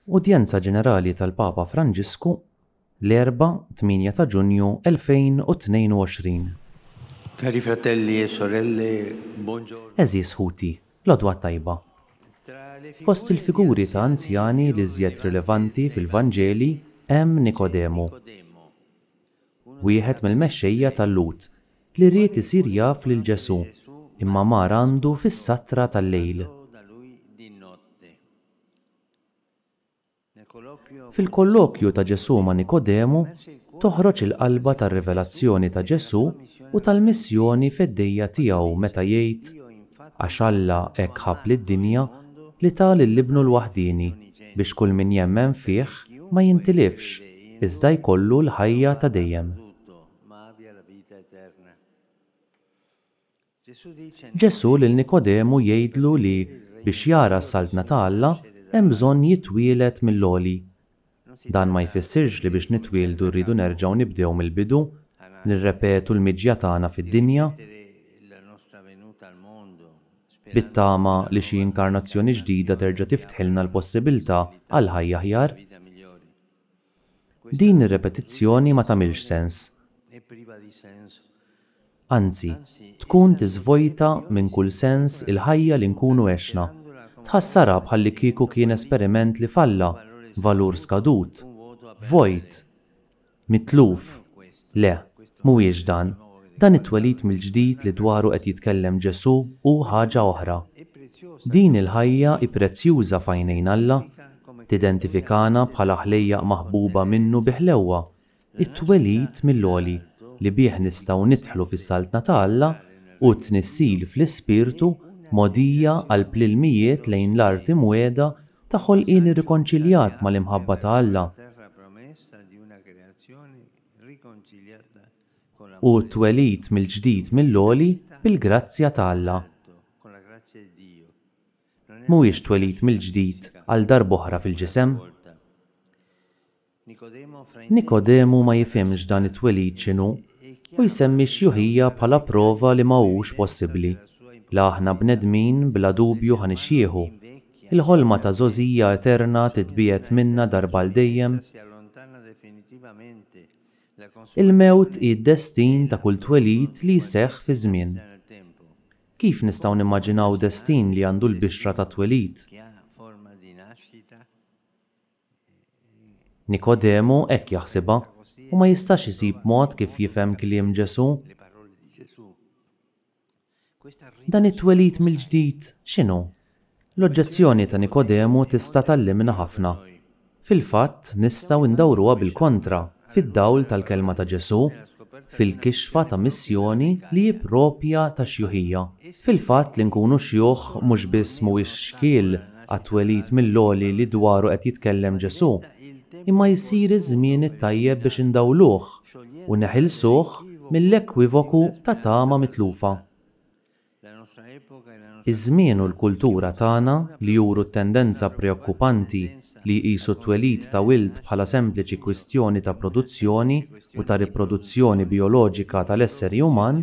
Udjenza Ġenerali tal-Papa Franġisku l-Erbgħa 8 ta' Ġunju 2022. Cari fratelli e sorelle, buongiorno. Għeżież ħuti, l-għodwa t-tajba. Fost il-figuri ta' anzjani l-iżjed rilevanti fil-Vanġeli hemm Nikodemu, wieħed mill-mexxejja tal-Lhud li ried isir jaf lil Ġesù imma mar għandu fis-satra tal-lejl. Fil-kollokju ta' Ġesù ma' Nikodemu toħroġ il-qalba tar-rivelazzjoni ta' Ġesù u tal-missjoni feddejja tiegħu meta jgħid, Għax Alla hekk ħabb lid-dinja li ta lil Ibnu l-waħdieni biex kull min jemmen fih ma jintilifx, iżda jkollu l-ħajja ta' dejjem. Ġesù lil Nikodemu jgħidlu li biex jara s-Saltna ta' Alla hemm bżonn jitwieled mill-għoli. Dan ma jfissirx li biex nitwieldu rridu nerġgħu nibdew mill-bidu, nirrepetu l-miġja tagħna fid-dinja, bit-tama li xi inkarnazzjoni ġdida terġa' tiftħilna l-possibilità għal ħajja aħjar. Din ir-repetizzjoni ma tagħmilx sens. Anzi, tkun tiżvojta minn kull sens il-ħajja li nkunu għexna. Tħassarha bħallikieku kien esperiment li falla, valur skadut, vojt, mitluf. Le, mhuwiex dan. Dan it-twelid mill-ġdid li dwaru qed jitkellem Ġesù hu ħaġa oħra. Din il-ħajja hi prezzjuża f'għajnejn Alla, tidentifikana bħala ħlejjaq maħbuba minnu bi ħlewwa. It-twelid mill-għoli li bih nistgħu nidħlu fis-Saltna ta' Alla hu t-tnissil fl-Ispirtu mogħdija għal plilmijiet lejn l-art imwiegħda ta' ħolqien irrikonċiljat mal-imħabba ta' Alla. u t-twelid mill-ġdid mill-għoli bil-grazzja ta' Alla. Mhuwiex twelid mill-ġdid għal darb'oħra fil-ġisem. Nikodemu ma jifhimx dan it-twelid x'inhu u jsemmi x-xjuħija bħala prova li ma hux possibbli, la aħna bnedmin bla dubju ħa nixjieħu, Il-ħolma ta' żgħożija eterna titbiegħed minna darba għal dejjem. Il-mewt hi d-destin ta' kull twelid li jseħħ fiż-żmien. Kif nistgħu nimmaġinaw destin li għandu l-bixra tat-twelid? Nikodemu hekk jaħsibha, u ma jistax isib mod kif jifhem kliem Ġesù. Dan it-twelid mill-ġdid x'inhu? L-oġġezzjoni ta' Nikodemu tista' tgħallimna ħafna. Fil-fatt, nistgħu ndawruha bil-kontra fid-dawl tal-kelma ta' Ġesù fil-kixfa ta' missjoni li hi proprja tax-xjuħija. Fil-fatt, li nkunu xjuħ mhux biss mhuwiex xkiel għat-twelid mill-għoli li dwaru qed jitkellem Ġesù, imma jsir iż-żmien it-tajjeb biex indawluh. u neħilsuh mill-ekwivoku ta' tama mitlufa. Iż-żmien u l-kultura tagħna li juru t-tendenza preokkupanti li jqisu t-twelid ta' wild bħala sempliċi kwistjoni ta' produzzjoni u ta' riproduzzjoni bijoloġika tal-esseri uman,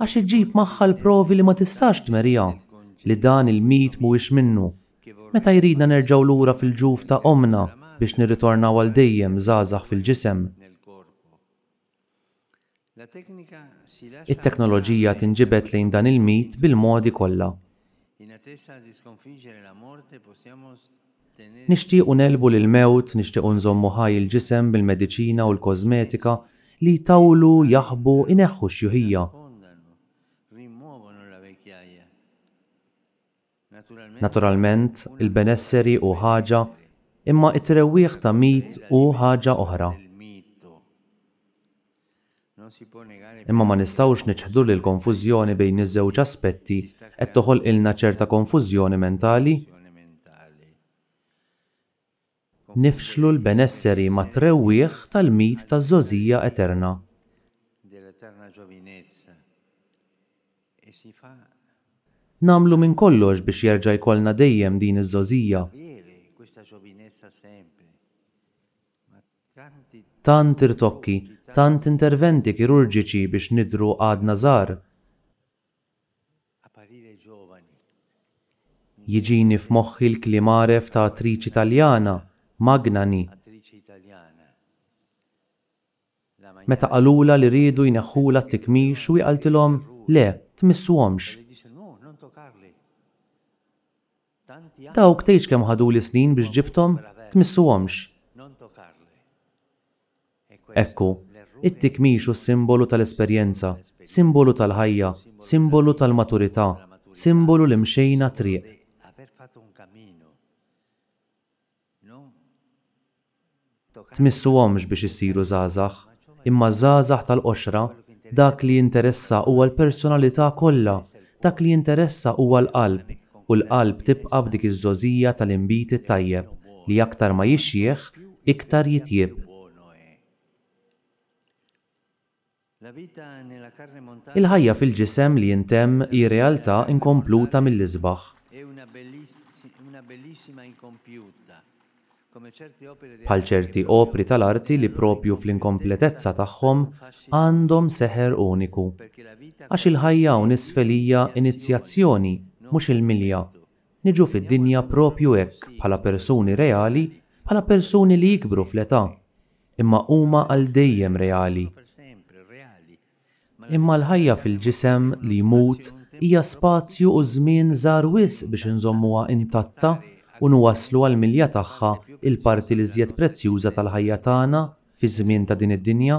Għax iġġib magħha l-provi li ma tistax tmerriha, li dan il-mit mhuwiex minnu. Meta jridna nerġgħu lura fil-ġuf ta' ommna biex nirritornaw għal dejjem żgħażagħ fil-ġisem. It-teknoloġija tinġibed lejn dan il-mit bil-modi kollha. Nixtiequ negħlbu l-mewt, nixtiequ nżommu ħaj il-ġisem bil-mediċina u l-kożmetika li jtawlu, jaħbu, ineħħu x-xjuħija. Naturalment, il-benesseri hu ħaġa, imma t-trewwieħ ta' mit hu ħaġa oħra. Imma ma nistgħux niċħdu li l-konfużjoni bejn iż-żewġ aspetti qed toħolqilna ċerta konfużjoni mentali. Nifxlu l-benesseri mat-trewwieħ tal-mit taż-żgħożija eterna. Nagħmlu minn kollox biex jerġa' jkollna dejjem din iż-żgħożija. Tant irtokki, tant interventi kirurġiċi biex nidhru għadna żgħar. Jiġini f'moħħi l-kliem għaref ta' attriċi Taljana, Magnani, meta qalulha li riedu jneħħulha t-tikmix u hi qaltilhom, Le, tmissuhomx! Dawk tgħidx kemm ħaduli snin biex ġibthom, tmissuhomx. Ekku, it-tikmix hu simbolu tal-esperjenza, simbolu tal-ħajja, simbolu tal-maturità, simbolu li mxejna triq. tmissuhomx biex issiru żgħażagħ, imma ż-żgħażagħ tal-qoxra, dak li jinteressa huwa l-personalità kollha, dak li jinteressa huwa l-qalb, u l-qalb tibqa' f'dik iż-żgħożija tal-inbid it-tajjeb li aktar ma jixjieħ, iktar jitjieb. Il-ħajja fil-ġisem li jintemm hi realtà inkompluta mill-isbaħ. Bħal ċerti opri tal-arti li proprju fl-inkompletezza tagħhom għandhom seħer uniku. Għax il-ħajja hawn isfel hija inizjazzjoni, mhux il-milja. Niġu fid-dinja proprju hekk bħala persuni reali, bħala persuni li jikbru fl-età. imma huma għal dejjem reali. Imma l-ħajja fil-ġisem li jmut hija spazju u żmien żgħar wisq biex inżommuha intatta u nwasslu għall-milja tagħha l-parti l-iżjed prezzjuża tal-ħajja tagħna fiż-żmien ta' din id-dinja,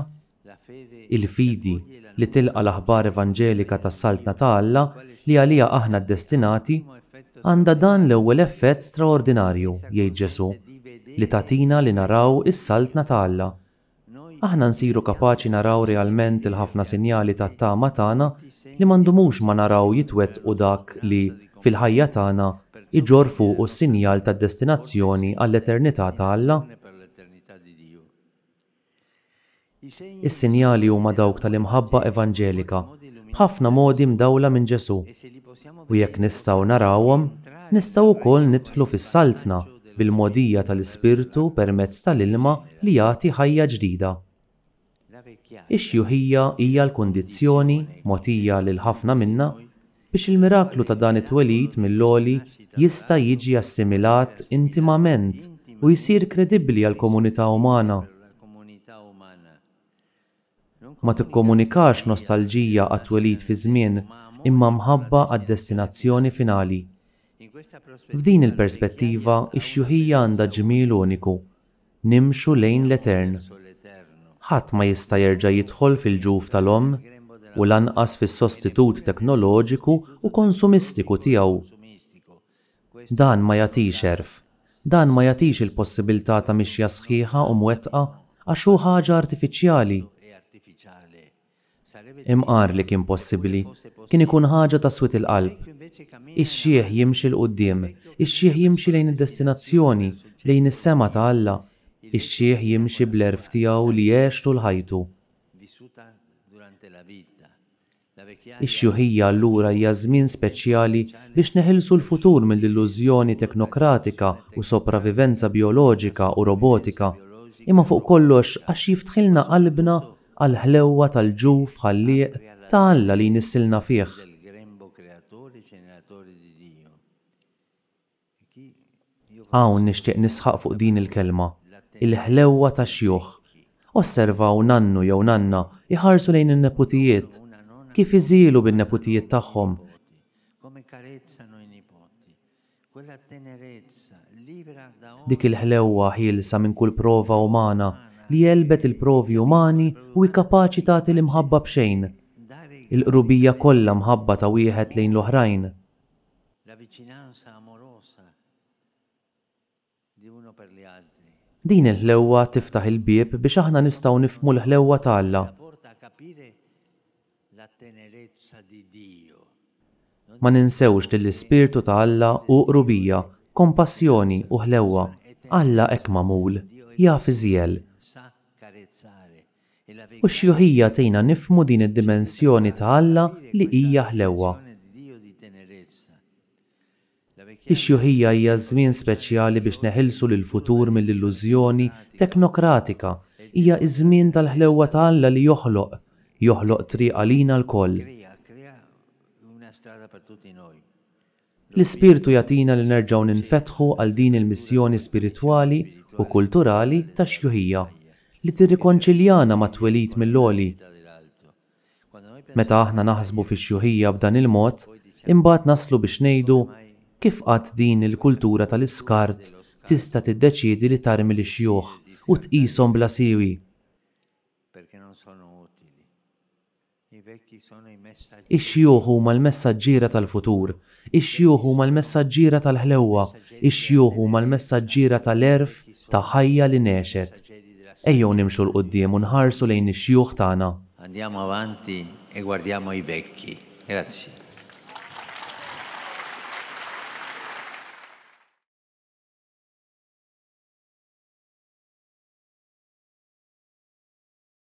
il-fidi li tilqa' l-aħbar evanġelika tas-Saltna ta' Alla li għaliha aħna ddestinati. Għandha dan l-ewwel effett straordinarju, jgħid Ġesù, li tagħtina li naraw is-Saltna ta' Alla. Aħna nsiru kapaċi naraw realment il-ħafna sinjali tat-tama tagħna li ma ndumux ma naraw jitwettqu dak li, fil-ħajja tagħna, iġorr fuqu s-sinjal tad-destinazzjoni għall-eternità ta' Alla. Is-sinjali huma dawk tal-imħabba evanġelika b'ħafna modi mdawla minn Ġesù. U jekk nistgħu narawhom, nistgħu wkoll nidħlu fis-Saltna bil-mogħdija tal-Ispirtu permezz tal-ilma li jagħti ħajja ġdida. Ix-xjuħija hija l-kundizzjoni mogħtija lil ħafna minna Biex il-miraklu ta' dan it-twelid mill-għoli jista' jiġi assimilat intimament u jsir kredibbli għall-komunità umana. Ma tikkomunikax nostalġija għat-twelid fiż-żmien imma mħabba għad-destinazzjoni finali. F'din il-perspettiva, ix-xjuħija għandha ġmiel uniku, nimxu lejn l-etern. Ħadd ma jista' jerġa' jidħol fil-ġuf tal-omm u lanqas fis-sostitut teknoloġiku u konsumistiku tiegħu. Dan ma jagħtix għerf, dan ma jagħtix il-possibiltà ta' mixja sħiħa u mwettqa għax hu ħaġa artifiċjali. Imqar li kien possibbli, kien ikun ħaġa ta' swied il-qalb. Ix-xiħ jimxi 'l quddiem, ix-xiħ jimxi lejn id-destinazzjoni, lejn is-sema ta' Alla, ix-xiħ jimxi bl-għerf tiegħu li għex tul ħajtu. Ix-xiħija allura hija żmien speċjali biex neħilsu l-futur mill-illużjoni teknokratika u sopravivenza bijoloġika u robotika, imma fuq kollox għax jiftħilna qalbna għall-ħlewwa tal-ġuf Ħallieq ta' Alla li jnissilna fih. Hawn nixtieq nisħaq fuq din il-kelma, il-ħlewwa tax-xjuħ. Osservaw nannu jew nanna jħarsu lejn in-neputijiet, kif iżielu bin-neputijiet tagħhom, Quella tenerezza, libera da ogni. Dik il-ħlewwa ħielsa minn kull prova umana li għelbet il-provi umani u hi kapaċi tagħti l-imħabba b'xejn. Il-qrubija kollha mħabba ta' wieħed lejn l-oħrajn. La vicinanza amorosa. Din il-ħlewwa tiftaħ il-bieb biex aħna nistgħu nifhmu l-ħlewwa ta' Alla. Ma ninsewx li l-ispirtu ta' Alla hu qrubija, kompassjoni, u ħlewwa. Alla hekk magħmul, jaf iżjel. U x-xjuħija tgħinna nifhmu din id-dimensjoni ta' Alla li hija ħlewwa. Ix-xjuħija hija ż-żmien speċjali biex neħilsu lill-futur mill-illużjoni teknokratika. Hija ż-żmien tal-ħlewwa ta' Alla li joħloq, joħloq triq għalina lkoll. L-Ispirtu jagħtina li nerġgħu ninfetħu għal din il-missjoni spiritwali u kulturali tax-xjuħija, li tirrikonċiljana mat-twelid mill-għoli. Meta aħna naħsbu fix-xjuħija b'dan il-mod, imbagħad naslu biex ngħidu, Kif qatt din il-kultura tal-iskart tista' tiddeċiedi li tarmi lix-xjuħ u tqishom bla siwi? Ix-xjuħ huma l-messaġġiera tal-futur, Ix-xjuħ huma l-messaġġiera tal-ħlewwa, ix-xjuħ huma l-messaġġiera ta' l-għerf ta' ħajja li ngħexet. Ejjew nimxu 'l quddiem u nħarsu lejn ix-xjuħ tagħna. Andiamo avanti e guardiamo i vecchi. Grazie.